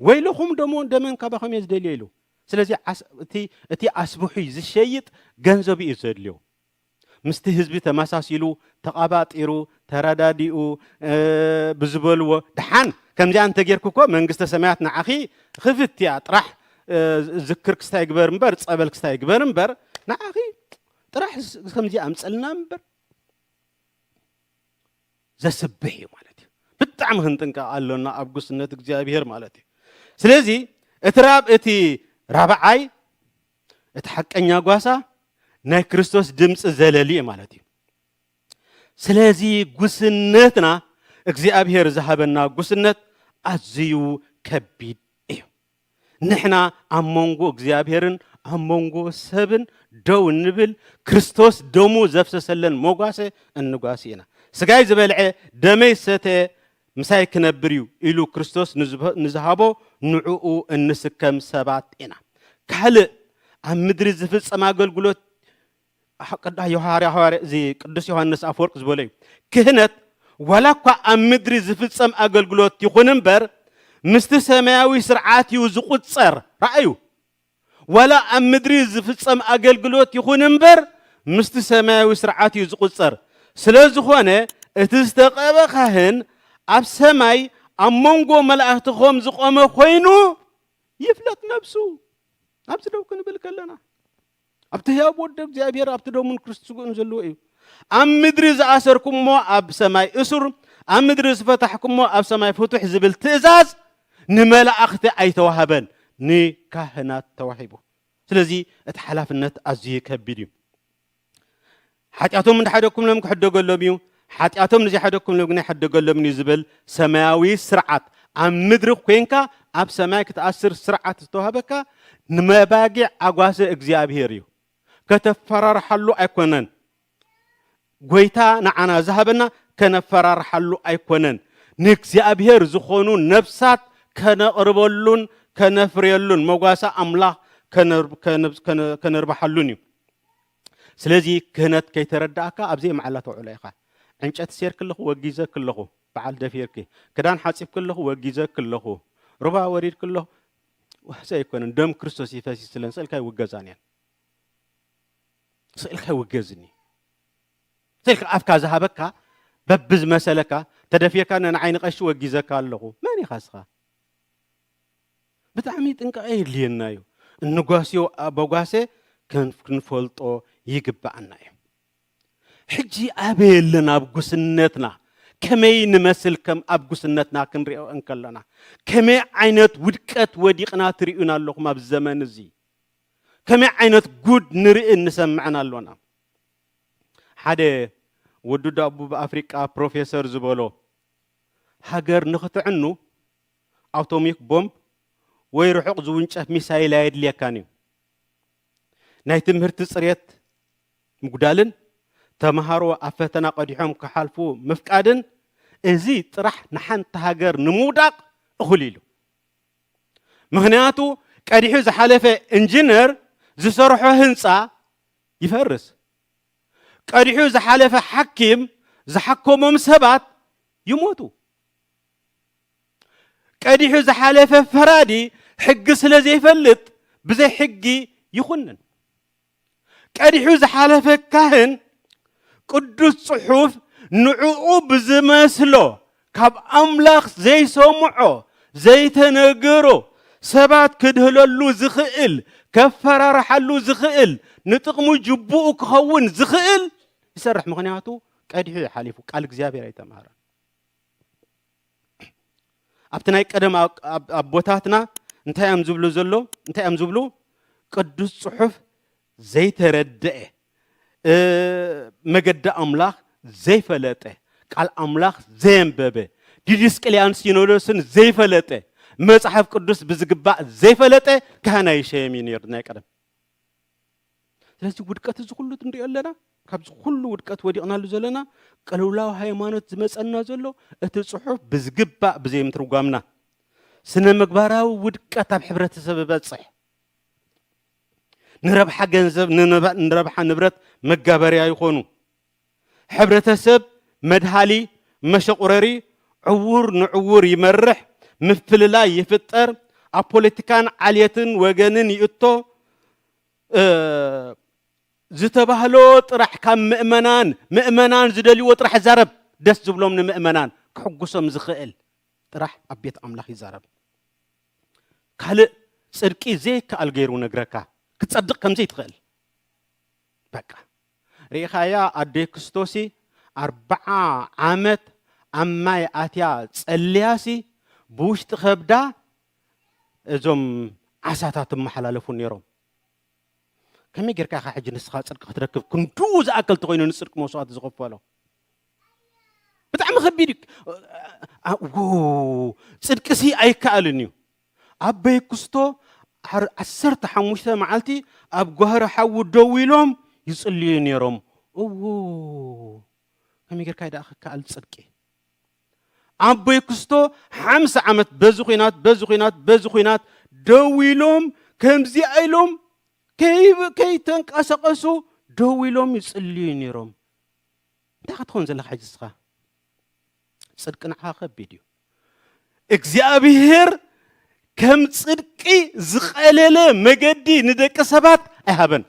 ወይለኹም ደሞ ደመን ካባኸም እየ ዝደልዮ ኢሉ ስለዚ እቲ ኣስብሑ ዝሸይጥ ገንዘብ እዩ ዘድልዮ ምስቲ ህዝቢ ተመሳሲሉ ተቐባጢሩ ተረዳዲኡ ብዝበልዎ ደሓን ከምዚኣ እንተጌርኪ እኮ መንግስተ ሰማያት ንዓኺ ክፍት እያ ጥራሕ ዝክር ክስታ ይግበር እምበር ፀበል ክስታ ይግበር እምበር ንዓኺ ጥራሕ ከምዚ ኣምፀልና እምበር ዘስብሕ እዩ ማለት እዩ ብጣዕሚ ክንጥንቀቕ ኣሎና ኣብ ጉስነት እግዚኣብሄር ማለት እዩ ስለዚ እቲ ራብ እቲ ራብዓይ እቲ ሓቀኛ ጓሳ ናይ ክርስቶስ ድምፂ ዘለሊ እዩ ማለት እዩ። ስለዚ ጉስነትና እግዚኣብሔር ዝሃበና ጉስነት ኣዝዩ ከቢድ እዩ። ንሕና ኣብ መንጎ እግዚኣብሔርን ኣብ መንጎ ሰብን ደው እንብል ክርስቶስ ደሙ ዘፍሰሰለን መጓሰ እንጓሲ ኢና። ስጋይ ዝበልዐ ደመይ ዝሰተየ ምሳይ ክነብር እዩ ኢሉ ክርስቶስ ንዝሃቦ ንዕኡ እንስከም ሰባት ኢና። ካልእ ኣብ ምድሪ ዝፍጸም ኣገልግሎት ቅዱስ ዮሃንስ ኣፈወርቅ ዝበሎ እዩ። ክህነት ዋላ እኳ ኣብ ምድሪ ዝፍጸም ኣገልግሎት ይኹን እምበር ምስቲ ሰማያዊ ስርዓት እዩ ዝቑጸር። ርኣዩ፣ ዋላ ኣብ ምድሪ ዝፍጸም ኣገልግሎት ይኹን እምበር ምስቲ ሰማያዊ ስርዓት እዩ ዝቑጸር። ስለ ዝኾነ እቲ ዝተቐብኣ ኻህን ኣብ ሰማይ ኣብ መንጎ መላእኽቲ ኸም ዝቖመ ኾይኑ ይፍለጥ ነብሱ። ኣብዚ ደው ክንብል ከለና ኣብቲ ህያብ ወዲ እግዚኣብሔር ኣብቲ ደሙን ክርስት ስግኡን ዘለዎ እዩ። ኣብ ምድሪ ዝኣሰርኩሞ ኣብ ሰማይ እሱር፣ ኣብ ምድሪ ዝፈታሕኩሞ ኣብ ሰማይ ፍቱሕ ዝብል ትእዛዝ ንመላእኽቲ ኣይተዋህበን ንካህናት ተዋሂቡ ስለዚ እቲ ሓላፍነት ኣዝዩ ከቢድ እዩ ሓጢኣቶም እንዳሓደግኩምሎም ክሕደገሎም እዩ ሓጢኣቶም ንዘይሓደግኩምሎም ግን ኣይሕደገሎምን እዩ ዝብል ሰማያዊ ስርዓት ኣብ ምድሪ ኮንካ ኣብ ሰማይ ክትኣስር ስርዓት ዝተዋህበካ ንመባጊዕ ኣጓሰ እግዚኣብሄር እዩ ከተፈራርሓሉ ኣይኮነን ጎይታ ንዓና ዝሃበና ከነፈራርሓሉ ኣይኮነን፣ ንእግዚኣብሄር ዝኾኑ ነፍሳት ከነቕርበሉን ከነፍርየሉን፣ መጓሰ ኣምላኽ ከነርብሓሉን እዩ። ስለዚ ክህነት ከይተረድኣካ ኣብ ዘይመዓላ ተውዕሎ ኢኻ። ዕንጨቲ ሴርኪ ኣለኹ ወጊዘኪ ኣለኹ በዓል ደፊርኪ፣ ክዳን ሓጺብኪ ኣለኹ ወጊዘኪ ኣለኹ፣ ሩባ ወሪድኪ ኣለኹ፣ ዋሕዚ ኣይኮነን፣ ደም ክርስቶስ እዩ ፈሲሱ ስለንስእልካ ይውገዛን እየን። ስእልካ ይውገዝኒ ስእልካ ኣፍካ ዝሃበካ በቢ ዝመሰለካ ተደፊካ ንዓይ ንቀሺ ወጊዘካ ኣለኹ መን ኢኻ ስኻ ብጣዕሚ ጥንቃቐ የድልየና እዩ እንጓስዮ ኣበጓሰ ክንፈልጦ ይግባኣና እዩ ሕጂ ኣበየ ኣለና ኣብ ጉስነትና ከመይ ንመስል ከም ኣብ ጉስነትና ክንሪኦ እንከለና ከመይ ዓይነት ውድቀት ወዲቕና ትርእዩና ኣለኹም ኣብ ዘመን እዚ ከመይ ዓይነት ጉድ ንርእን ንሰምዕን ኣሎና። ሓደ ወዲ ደቡብ ኣፍሪቃ ፕሮፌሰር ዝበሎ፣ ሃገር ንኽትዕኑ ኣውቶሚክ ቦምብ ወይ ርሑቕ ዝውንጨፍ ሚሳይል ኣየድልየካን እዩ። ናይ ትምህርቲ ጽሬት ምጉዳልን ተመሃሮ ኣብ ፈተና ቀዲሖም ክሓልፉ ምፍቃድን እዚ ጥራሕ ንሓንቲ ሃገር ንምውዳቕ እኹል ኢሉ። ምኽንያቱ ቀዲሑ ዝሓለፈ እንጅነር ዝሰርሖ ህንፃ ይፈርስ፣ ቀዲሑ ዝሓለፈ ሓኪም ዝሓከሞም ሰባት ይሞቱ፣ ቀዲሑ ዝሓለፈ ፈራዲ ሕጊ ስለዘይፈልጥ ብዘይ ሕጊ ይኹንን። ቀዲሑ ዝሓለፈ ካህን ቅዱስ ጽሑፍ ንዕኡ ብዝመስሎ ካብ ኣምላኽ ዘይሰምዖ ዘይተነገሮ ሰባት ክድህለሉ ዝኽእል ከፈራርሓሉ ዝኽእል ንጥቕሙ ጅቡኡ ክኸውን ዝኽእል ይሰርሕ ምኽንያቱ ቀዲሑ እዩ ሓሊፉ ቃል እግዚኣብሔር ኣይተማህረን ኣብቲ ናይ ቀደም ኣቦታትና እንታይ እዮም ዝብሉ ዘሎ እንታይ እዮም ዝብሉ ቅዱስ ፅሑፍ ዘይተረድአ መገዲ ኣምላኽ ዘይፈለጠ ቃል ኣምላኽ ዘየንበበ ዲድስቅልያን ሲኖዶስን ዘይፈለጠ መፅሓፍ ቅዱስ ብዝግባእ ዘይፈለጠ ካህን ኣይሸየም እዩ ነይሩ ናይ ቀደም ስለዚ ውድቀት እዚ ኩሉ ንሪኦ ኣለና ካብዚ ኩሉ ውድቀት ወዲቕናሉ ዘለና ቅልውላው ሃይማኖት ዝመፀና ዘሎ እቲ ፅሑፍ ብዝግባእ ብዘይምትርጓምና ስነ ምግባራዊ ውድቀት ኣብ ሕብረተሰብ በፅሕ ንረብሓ ገንዘብ ንረብሓ ንብረት መጋበርያ ይኾኑ ሕብረተሰብ መድሃሊ፣ መሸቑረሪ፣ ዕዉር ንዕዉር ይመርሕ፣ ምፍልላይ ይፍጠር፣ ኣብ ፖለቲካን ዓልየትን ወገንን ይእቶ፣ እ ዝተባህሎ ጥራሕ ካብ ምእመናን፣ ምእመናን ዝደልይዎ ጥራሕ ይዛረብ፣ ደስ ዝብሎም ንምእመናን ክሕጉሶም ዝኸእል ጥራሕ ኣብ ቤት ኣምላኽ ይዛረብ። ካልእ ጽድቂ ዘይከኣል ገይሩ ነግረካ፣ ክትጸድቕ ከምዘይትኸእል በቃ። ሪኢኻያ ኣደይ ክስቶሲ ኣርብዓ ዓመት ኣብ ማይ ኣትያ ጸልያሲ ብውሽጢ ከብዳ እዞም ዓሳታት እመሓላለፉ ኔሮም ከመይ ጌርካ ኢኻ ሕጂ ንስኻ ጽድቂ ክትረክብ ክንድኡ ዝኣክል ተኾይኑ ንጽድቂ መስዋእቲ ዝኸፈሎ ብጣዕሚ ከቢድ እዩ ጽድቂሲ ኣይከኣልን እዩ ኣበይ ኩስቶ ዓሰርተ ሓሙሽተ መዓልቲ ኣብ ጓህሪ ሓዊ ደው ኢሎም ይጽልዩ ነይሮም እዎ ከመይ ጌርካ ደኣ ክከኣል ጽድቂ ኣቦይ ክስቶ ሓምሳ ዓመት በዚ ኩናት በዚ ኩናት በዚ ኩናት ደው ኢሎም ከምዚኣ ኢሎም ከይተንቀሳቐሱ ደው ኢሎም ይጽልዩ ነይሮም እንታይ ክትኸውን ዘለካ ሕጂ ስኻ ጽድቂ ንዓኻ ከቢድ እዩ። እግዚኣብሄር ከም ጽድቂ ዝቐለለ መገዲ ንደቂ ሰባት ኣይሃበን።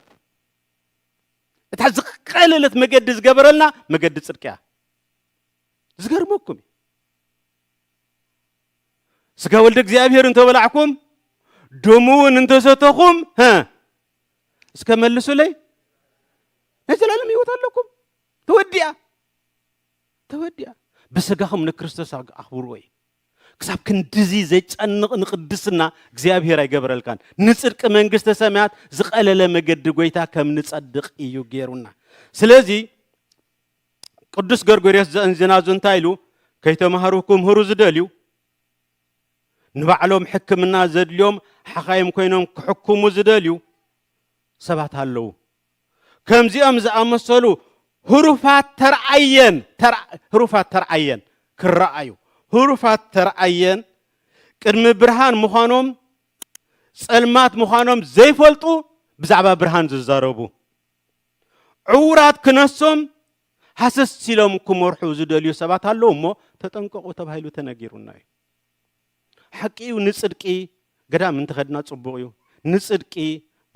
እታ ዝቐለለት መገዲ ዝገበረልና መገዲ ጽድቂ እያ። ዝገርመኩም እዩ። ስጋ ወልደ እግዚኣብሄር እንተበላዕኩም ደሙ እውን እንተሰተኹም እስከ መልሱለይ ናይ ዘላለም ህይወት ኣለኩም ተወዲኣ ተወዲኣ ብስጋኹም ንክርስቶስ ኣኽብርዎ እዩ። ክሳብ ክንድዚ ዘጨንቕ ንቅድስና እግዚኣብሔር ኣይገበረልካን። ንጽድቂ መንግስተ ሰማያት ዝቐለለ መገዲ ጎይታ ከም ንጸድቕ እዩ ገይሩና። ስለዚ ቅዱስ ገርጎርዮስ ዘእንዚናዙ እንታይ ኢሉ ከይተማህሩ ክምህሩ ዝደልዩ ንባዕሎም ሕክምና ዘድልዮም ሓኻይም ኮይኖም ክሕክሙ ዝደልዩ ሰባት ኣለዉ። ከምዚኦም ዝኣመሰሉ ህሩፋት ተርኣየን ህሩፋት ተርኣየን ክረኣዩ ህሩፋት ተርኣየን ቅድሚ ብርሃን ምዃኖም ጸልማት ምዃኖም ዘይፈልጡ ብዛዕባ ብርሃን ዝዛረቡ ዕውራት ክነሶም ሃሰስ ኢሎም ክመርሑ ዝደልዩ ሰባት ኣለዉ እሞ ተጠንቀቑ ተባሂሉ ተነጊሩና እዩ። ሓቂዩ ንጽድቂ ገዳም እንተኸድና ጽቡቕ እዩ ንጽድቂ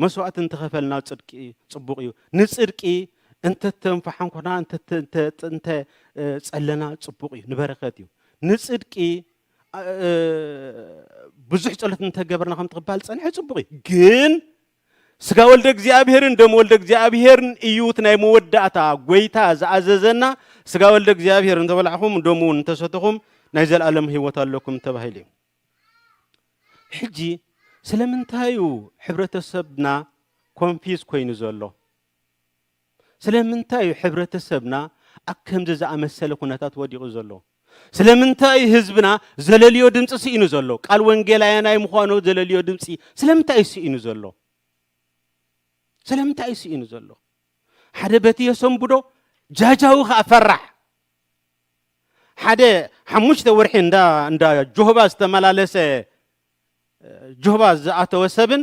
መስዋእቲ እንተኸፈልና ጽድቂ ጽቡቕ እዩ ንጽድቂ እንተተንፋሓንኮና እንተ ጸለና ጽቡቕ እዩ ንበረከት እዩ ንጽድቂ ብዙሕ ጸሎት እንተገበርና ከም ትቕባል ጸንሐ ጽቡቕ እዩ ግን ስጋ ወልደ እግዚኣብሔርን ደም ወልደ እግዚኣብሔርን እዩ እቲ ናይ መወዳእታ ጎይታ ዝኣዘዘና ስጋ ወልደ እግዚኣብሔር እንተበላዕኹም ደሙ እውን እንተሰተኹም ናይ ዘለኣለም ህይወት ኣለኩም ተባሂሉ እዩ ሕጂ ስለምንታይ እዩ ሕብረተሰብና ኮንፊዝ ኮይኑ ዘሎ ስለምንታይ እዩ ሕብረተሰብና ኣብ ከምዚ ዝኣመሰለ ኩነታት ወዲቑ ዘሎ? ስለምንታይ እዩ ህዝብና ዘለልዮ ድምጺ ስኢኑ ዘሎ? ቃል ወንጌል ኣየናይ ምዃኑ ዘለልዮ ድምጺ ስለምንታይ እዩ ስኢኑ ዘሎ? ስለምንታይ እዩ ስኢኑ ዘሎ? ሓደ በቲ የሰንብዶ ጃጃዊ ከኣ ፈራሕ ሓደ ሓሙሽተ ወርሒ እንዳ እንዳ ጆህባ ዝተመላለሰ ጆህባ ዝኣተወ ሰብን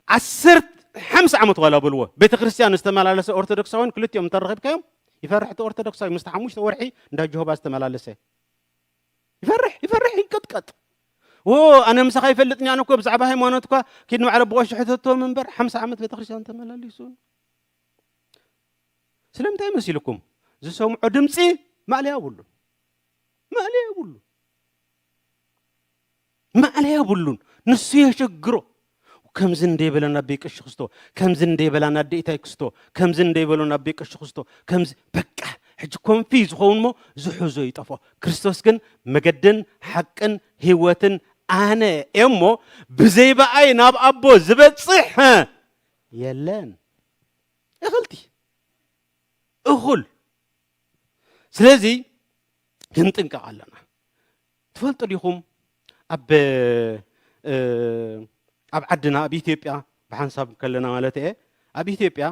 ዓሰርተ ሓምሳ ዓመት ዋላ በልዎ ቤተ ክርስቲያን ዝተመላለሰ ኦርቶዶክሳውያን ክልቲኦም እንተረኺብካዮም ይፈርሕ እቲ ኦርቶዶክሳዊ ምስቲ ሓሙሽተ ወርሒ እንዳ ጆሆባ ዝተመላለሰ ይፈርሕ ይፈርሕ ይንቀጥቀጥ ወ ኣነ ምሳኻ ይፈልጥኛ ኣነ እኮ ብዛዕባ ሃይማኖት እኳ ኪድ ንባዕለ ብቆሽ ሕተቶም እምበር ሓምሳ ዓመት ቤተ ክርስቲያን ተመላሊሱ ስለምንታይ መሲልኩም ዝሰምዖ ድምፂ ማእለያ የብሉ ማእለያ የብሉ ማእለያ የብሉን ንሱ የሸግሮ ከምዚ እንደይ በለና ኣቤ ቀሺ ክስቶ ከምዚ እንደይ በላና ኣዴኢታይ ክስቶ ከምዚ እንደይ በሎና ኣቤ ቀሺ ክስቶ ከምዚ በቃ ሕጂ ኮንፊ ዝኸውን ሞ ዝሕዞ ይጠፍኦ ክርስቶስ ግን መገድን ሓቅን ህይወትን ኣነ እሞ ብዘይ በኣይ ናብ ኣቦ ዝበጽሕ የለን እኽልቲ እኹል ስለዚ ክንጥንቀቕ ኣለና ትፈልጡ ዲኹም ኣብ ኣብ ዓድና ኣብ ኢትዮጵያ ብሓንሳብ ከለና ማለት እየ ኣብ ኢትዮጵያ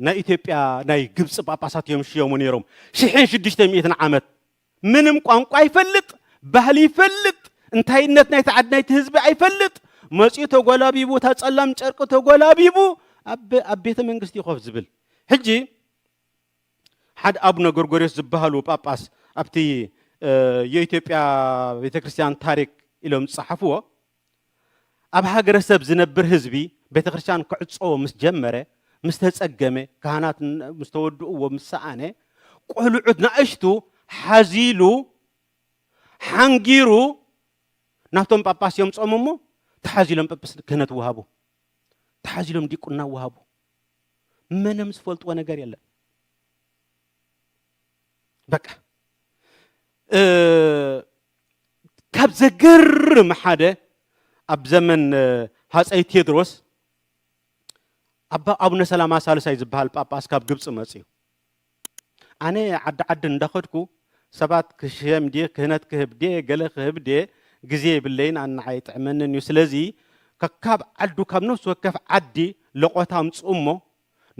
ናይ ኢትዮጵያ ናይ ግብፂ ጳጳሳት እዮም ሽየሙ ነይሮም ሽሕን ሽዱሽተ ሚእትን ዓመት ምንም ቋንቋ ኣይፈልጥ፣ ባህሊ ይፈልጥ፣ እንታይነት ናይቲ ዓዲ ናይቲ ህዝቢ ኣይፈልጥ፣ መጺኡ ተጎላቢቡ እታ ጸላም ጨርቂ ተጎላቢቡ ኣብ ኣብ ቤተ መንግስቲ ኮፍ ዝብል ሕጂ ሓደ ኣቡነ ጎርጎርዮስ ዝበሃሉ ጳጳስ ኣብቲ የኢትዮጵያ ቤተ ክርስቲያን ታሪክ ኢሎም ዝጸሓፍዎ ኣብ ሃገረሰብ ዝነብር ህዝቢ ቤተክርስትያን ክዕጸዎ ምስ ጀመረ፣ ምስ ተጸገመ፣ ካህናት ምስ ተወድእዎ ምስ ሰኣነ፣ ቆልዑት ናእሽቱ ሓዚሉ ሓንጊሩ ናብቶም ጳጳስ የምጾም እሞ ተሓዚሎም ጵጵስ ክህነት ወሃቡ። ተሓዚሎም ዲቁና ወሃቡ። መንም ዝፈልጥዎ ነገር የለን። በቃ ካብ ዘገርም ሓደ ኣብ ዘመን ሃፀይ ቴድሮስ ኣባ ኣቡነ ሰላማ ሳልሳይ ዝበሃል ጳጳስ ካብ ግብፂ መፅዩ ኣነ ዓዲ ዓዲ እንዳኸድኩ ሰባት ክሽየም ድየ ክህነት ክህብ ድየ ገለ ክህብ ድየ ግዜ የብለይን ኣናዓይ ጥዕመንን እዩ ስለዚ ከካብ ዓዱ ካብ ነፍሲ ወከፍ ዓዲ ለቆታ ኣምፅኡ እሞ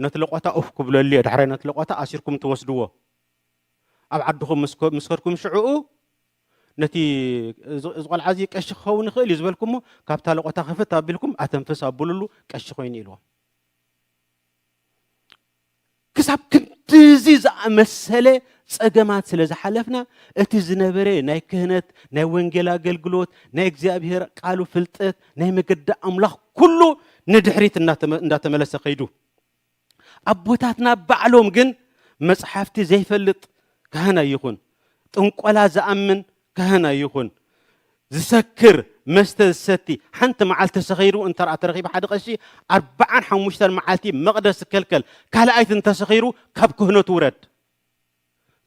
ነቲ ለቖታ ኡፍ ክብለሉ'የ ዳሕራይ ነቲ ለቖታ ኣሲርኩም ትወስድዎ ኣብ ዓድኹም ምስ ምስ ከድኩም ሽዑኡ ነቲ እዚ እዚ ቆልዓ እዚ ቀሺ ክኸውን ይኽእል እዩ ዝበልኩሞ ካብታ ለቖታ ክፍት ኣቢልኩም ኣተንፍስ ኣብሉሉ ቀሺ ኮይኑ ኢልዎም ክሳብ ክንድዚ ዝኣመሰለ ጸገማት ስለ ዝሓለፍና እቲ ዝነበረ ናይ ክህነት ናይ ወንጌል ኣገልግሎት ናይ እግዚኣብሄር ቃሉ ፍልጠት ናይ መገዲ ኣምላኽ ኩሉ ንድሕሪት እንዳተመለሰ ከይዱ ኣቦታትና ባዕሎም ግን መጽሓፍቲ ዘይፈልጥ ካህን ኣይኹን ጥንቆላ ዝኣምን ካህን ኣይኹን ዝሰክር መስተ ዝሰቲ ሓንቲ መዓልቲ ሰኺሩ እንተ ተረኺቡ ሓደ ቀሺ ኣርባዓን ሓሙሽተን መዓልቲ መቕደስ ዝከልከል ካልኣይት እንተሰኺሩ ካብ ክህነቱ ውረድ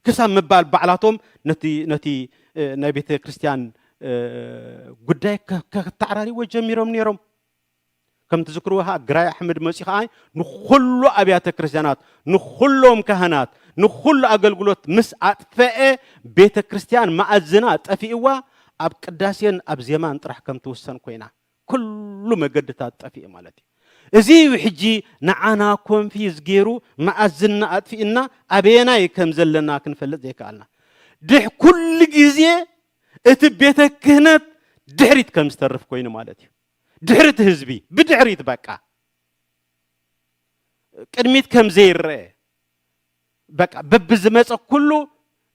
ክሳብ ምባል ባዕላቶም ነቲ ነቲ ናይ ቤተ ክርስቲያን ጉዳይ ከተዓራሪዎ ጀሚሮም ነይሮም ከም ትዝክርዎ ከዓ ግራይ ኣሕመድ መፂ ከዓ ንኩሉ ኣብያተ ክርስቲያናት ንኩሎም ካህናት ንኩሉ ኣገልግሎት ምስ ኣጥፈአ ቤተ ክርስቲያን ማእዝና ጠፊእዋ ኣብ ቅዳሴን ኣብ ዜማን ጥራሕ ከም ትውሰን ኮይና ኩሉ መገድታት ጠፊኡ ማለት እዩ። እዚ እዩ ሕጂ ንዓና ኮንፊዝ ጌሩ መኣዝንና ኣጥፊእና ኣበየናይ ከም ዘለና ክንፈልጥ ዘይከኣልና። ድሕ ኩሉ ግዜ እቲ ቤተ ክህነት ድሕሪት ከም ዝተርፍ ኮይኑ ማለት እዩ። ድሕሪ እቲ ህዝቢ ብድሕሪት በቃ ቅድሚት ከም ዘይረአ በቃ በብዝመፀ ኩሉ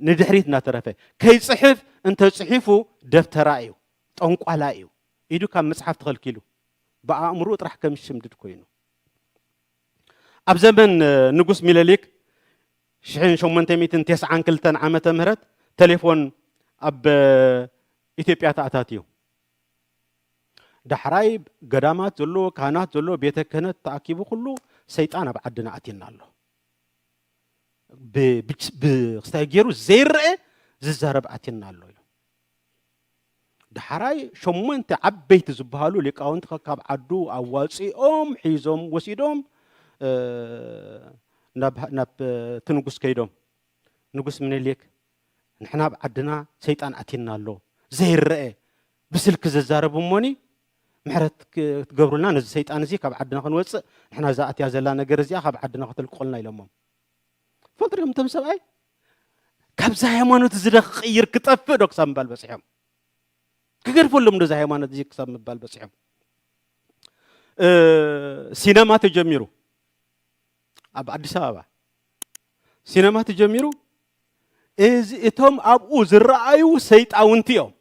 ንድሕሪት እናተረፈ ከይፅሕፍ እንተፅሒፉ ደፍተራ እዩ ጠንቋላ እዩ ኢዱ ካብ ምጽሓፍ ተኸልኪሉ ብኣእምርኡ ጥራሕ ከም ዝሽምድድ ኮይኑ። ኣብ ዘመን ንጉስ ሚለሊክ ሽሕን ሸሞንተ ሚእትን ቴስዓን ክልተን ዓመተ ምህረት ተሌፎን ኣብ ኢትዮጵያ ተኣታትዩ። ዳሕራይ ገዳማት ዘሎ ካህናት ዘሎ ቤተ ክህነት ተኣኪቡ ኩሉ ሰይጣን ኣብ ዓድና ኣትየና ኣሎ ብክስታይ ገይሩ ዘይረአ ዝዛረብ ኣትየና ኣሎ እዩ ዳሕራይ ሸሞንተ ዓበይቲ ዝበሃሉ ሊቃውንቲ ከካብ ዓዱ ኣዋፂኦም ሒዞም ወሲዶም ናብ እቲ ንጉስ ከይዶም ንጉስ ምኒልክ ንሕና ኣብ ዓድና ሰይጣን ኣቲና ኣሎ ዘይረአ ብስልኪ ዘዛረብ እሞኒ ምሕረት ክትገብሩልና ነዚ ሰይጣን እዚ ካብ ዓድና ክንወፅእ ንሕና ዝኣትያ ዘላ ነገር እዚኣ ካብ ዓድና ከተልቅቑልና ኢሎሞም ትፈልጡ ዲኹም እቶም ሰብኣይ ካብዛ ሃይማኖት እዚ ዶ ክቕይር ክጠፍእ ዶ ክሳብ ምባል በፂሖም ክገድፈሎም ዶ እዚ ሃይማኖት እዚ ክሳብ ምባል በፂሖም ሲነማ ተጀሚሩ ኣብ ኣዲስ ኣበባ ሲነማ ተጀሚሩ እዚ እቶም ኣብኡ ዝረኣዩ ሰይጣውንቲ እዮም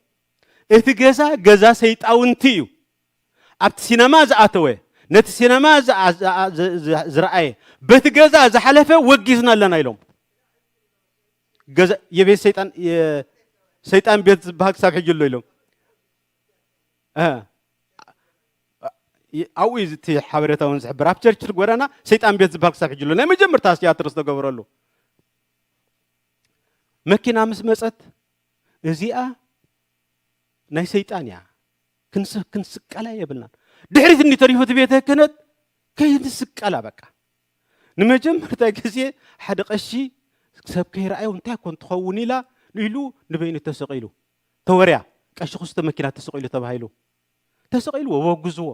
እቲ ገዛ ገዛ ሰይጣውንቲ እዩ ኣብቲ ሲነማ ዝኣተወ፣ ነቲ ሲነማ ዝረኣየ፣ በቲ ገዛ ዝሓለፈ ወጊዝና ኣለና ኢሎም። የቤት ሰይጣን ሰይጣን ቤት ዝበሃል ክሳብ ሕጂ ኣሎ ኢሎም። ኣብኡ እዩ እቲ ሓበሬታ እውን ዝሕብር ኣብ ቸርችል ጎዳና ሰይጣን ቤት ዝበሃል ክሳብ ሕጂ ኣሎ ናይ መጀመርታ ትያትር ዝተገበረሉ መኪና ምስ መፀት እዚኣ ናይ ሰይጣን እያ ክንስቀላ የብልናን። ድሕሪት እንዲተሪፉ እቲ ቤተ ክህነት ከይንስቀላ በቃ ንመጀመርታ ግዜ ሓደ ቀሺ ሰብ ከይረኣዩ እንታይ ኮን ትኸውን ኢላ ኢሉ ንበይኑ ተሰቂሉ ተወርያ ቀሺ ክስቶ መኪና ተሰቂሉ ተባሂሉ ተሰቂሉ ወወግዝዎ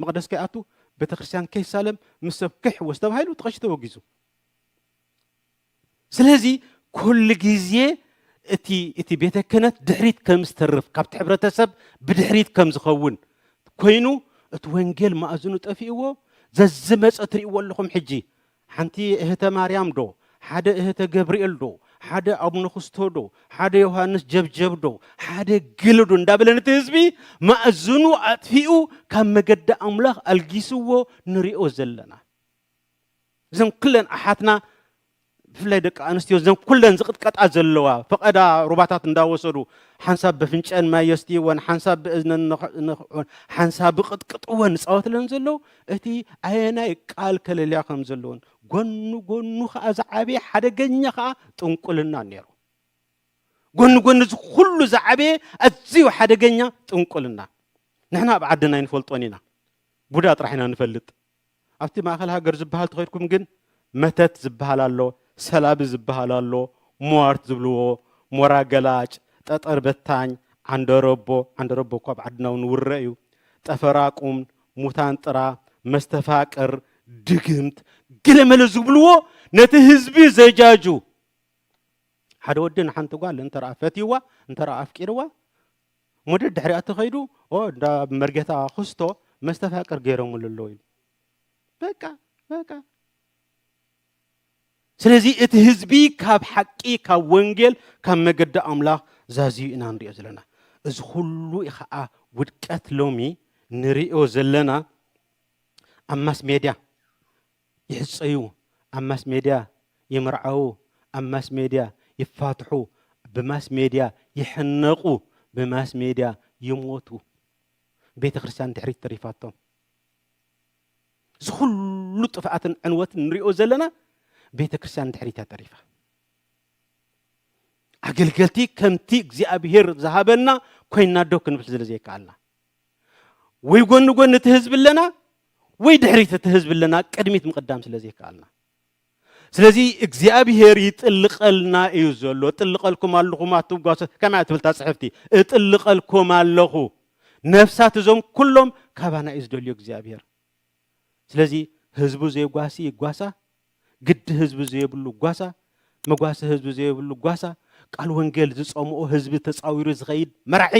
መቕደስ ከይኣቱ ቤተክርስትያን ከይሳለም ምስ ሰብ ክሕወስ ተባሂሉ ተቐሺ ተወጊዙ ስለዚ ኩሉ ግዜ እቲ እቲ ቤተ ክህነት ድሕሪት ከም ዝተርፍ ካብቲ ሕብረተሰብ ብድሕሪት ከም ዝኸውን ኮይኑ እቲ ወንጌል ማእዝኑ ጠፊእዎ ዘዝመፀ ትርእይዎ ኣለኹም ሕጂ ሓንቲ እህተ ማርያም ዶ ሓደ እህተ ገብርኤል ዶ ሓደ ኣቡነ ኩስቶ ዶ ሓደ ዮሃንስ ጀብጀብ ዶ ሓደ ግል ዶ እንዳበለን እቲ ህዝቢ ማእዝኑ ኣጥፊኡ ካብ መገዲ ኣምላኽ ኣልጊስዎ ንሪኦ ዘለና እዘን ኩለን ኣሓትና ብፍላይ ደቂ ኣንስትዮ እዘን ኩለን ዝቕጥቀጣ ዘለዋ ፈቐዳ ሩባታት እንዳወሰዱ ሓንሳብ በፍንጨን ማይ የስትይወን ሓንሳብ ብእዝነን ንኽዕን ሓንሳብ ብቕጥቅጥወን ዝፃወትለን ዘለዉ እቲ ኣየናይ ቃል ከለልያ ከም ዘለዎን ጎኑ ጎኑ ከዓ ዝዓበየ ሓደገኛ ከዓ ጥንቁልና ነይሩ ጎኒ ጎኒ እዚ ኩሉ ዝዓበየ ኣዝዩ ሓደገኛ ጥንቁልና ንሕና ኣብ ዓድና ኣይንፈልጦን ኢና ቡዳ ጥራሕ ኢና ንፈልጥ ኣብቲ ማእከል ሃገር ዝብሃል ተኸድኩም ግን መተት ዝብሃል ኣሎ፣ ሰላቢ ዝብሃል ኣሎ፣ ሟርት ዝብልዎ፣ ሞራ ገላጭ፣ ጠጠር በታኝ፣ ዓንደረቦ፣ ዓንደረቦ እኮ ኣብ ዓድና ውን ውረ እዩ፣ ጠፈራቁም፣ ሙታንጥራ፣ መስተፋቅር፣ ድግምት፣ ገለመለ ዝብልዎ ነቲ ህዝቢ ዘጃጁ ሓደ ወዲ ንሓንቲ ጓል እንተ ፈትይዋ እንተ ኣፍቂርዋ፣ እሞ ደድሕሪኣ ተኸይዱ ኦ እንዳ መርጌታ ኹስቶ መስተፋቅር ገይሮምሉ ኣለዉ ኢሉ በቃ በቃ ስለዚ እቲ ህዝቢ ካብ ሓቂ ካብ ወንጌል ካብ መገዲ ኣምላኽ ዛዝዩ ኢና ንሪኦ ዘለና እዚ ኩሉ ከዓ ውድቀት ሎሚ ንሪኦ ዘለና ኣብ ማስ ሜድያ ይሕጸዩ ኣብ ማስ ሜድያ ይምርዓዉ ኣብ ማስ ሜድያ ይፋትሑ ብማስ ሜድያ ይሕነቁ ብማስ ሜድያ ይሞቱ ቤተክርስትያን ድሕሪት ተሪፋቶም እዚ ኩሉ ጥፍኣትን ዕንወትን ንሪኦ ዘለና ቤተክርስትያን ድሕሪታ ተሪፋ ኣገልገልቲ ከምቲ እግዚኣብሄር ዝሃበና ኮይና ዶ ክንብል ስለ ዘይከኣልና ወይ ጎኒ ጎኒ እቲ ህዝቢ ኣለና ወይ ድሕሪት እቲ ህዝቢ ኣለና ቅድሚት ምቕዳም ስለ ዘይከኣልና ስለዚ እግዚኣብሄር ይጥልቐልና እዩ ዘሎ እጥልቐልኩም ኣለኹም ኣትጓሰ ከመይ ትብልታ ፅሕፍቲ እጥልቐልኩም ኣለኹ ነፍሳት እዞም ኩሎም ካባና እዩ ዝደልዮ እግዚኣብሄር ስለዚ ህዝቡ ዜጓሲ ይጓሳ፣ ግዲ ህዝቢ ዘየብሉ ጓሳ፣ መጓሰ ህዝቢ ዘየብሉ ጓሳ፣ ቃል ወንጌል ዝጸምኦ ህዝቢ ተጻዊሩ ዝኸይድ መራሒ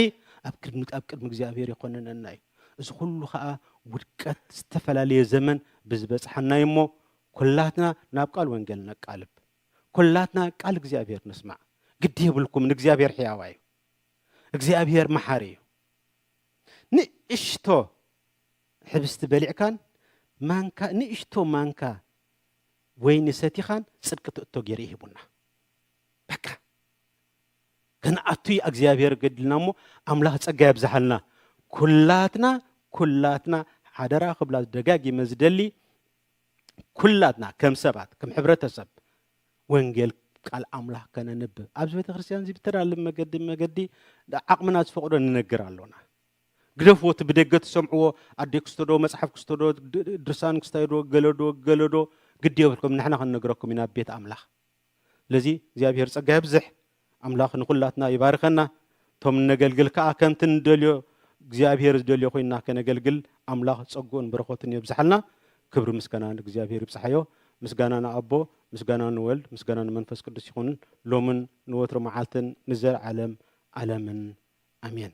ኣብ ቅድሚ ኣብ ቅድሚ እግዚኣብሔር የኾንነና እዩ። እዚ ኩሉ ከኣ ውድቀት ዝተፈላለየ ዘመን ብዝበጽሓና እዩ እሞ ኩላትና ናብ ቃል ወንጌል ነቃልብ። ኩላትና ቃል እግዚኣብሔር ንስማዕ። ግዲ የብልኩምን እግዚኣብሔር ሕያዋ እዩ። እግዚኣብሔር መሓሪ እዩ። ንእሽቶ ሕብስቲ በሊዕካን ማንካ ንእሽቶ ማንካ ወይኒ ሰቲኻን ጽድቂ ትእቶ ጌሩ እዩ ሂቡና በቃ ከነኣቱ እዩ እግዚኣብሔር ገድልና እሞ ኣምላኽ ጸጋ የብዝሓልና ኩላትና ኩላትና ሓደራ ክብላ ደጋጊመ ዝደሊ ኩላትና ከም ሰባት ከም ሕብረተሰብ ወንጌል ቃል ኣምላኽ ከነንብብ ኣብዚ ቤተ ክርስቲያን እዚ ብተዳልብ መገዲ መገዲ ዓቕምና ዝፈቕዶ ንነግር ኣሎና ግደፍዎ እቲ ብደገ ትሰምዕዎ ኣደይ ክስቶዶ መጽሓፍ ክስቶዶ ድርሳን ክስታዮዶ ገለዶ ገለዶ ግዲ የብልኩም ንሕና ክንነግረኩም ኢና ቤት ኣምላኽ ስለዚ እግዚኣብሔር ጸጋ የብዝሕ ኣምላኽ ንኹላትና ይባርከና ቶም እነገልግል ከኣ ከምቲ ንደልዮ እግዚኣብሔር ዝደልዮ ኮይና ከነገልግል ኣምላኽ ጸግኡን በረኸቱን የብዝሓልና ክብሪ ምስጋና ንእግዚኣብሔር ይብጽሓዮ ምስጋና ንኣቦ ምስጋና ንወልድ ምስጋና ንመንፈስ ቅዱስ ይኹን ሎምን ንወትሮ መዓልትን ንዘለዓለም ዓለምን ኣሜን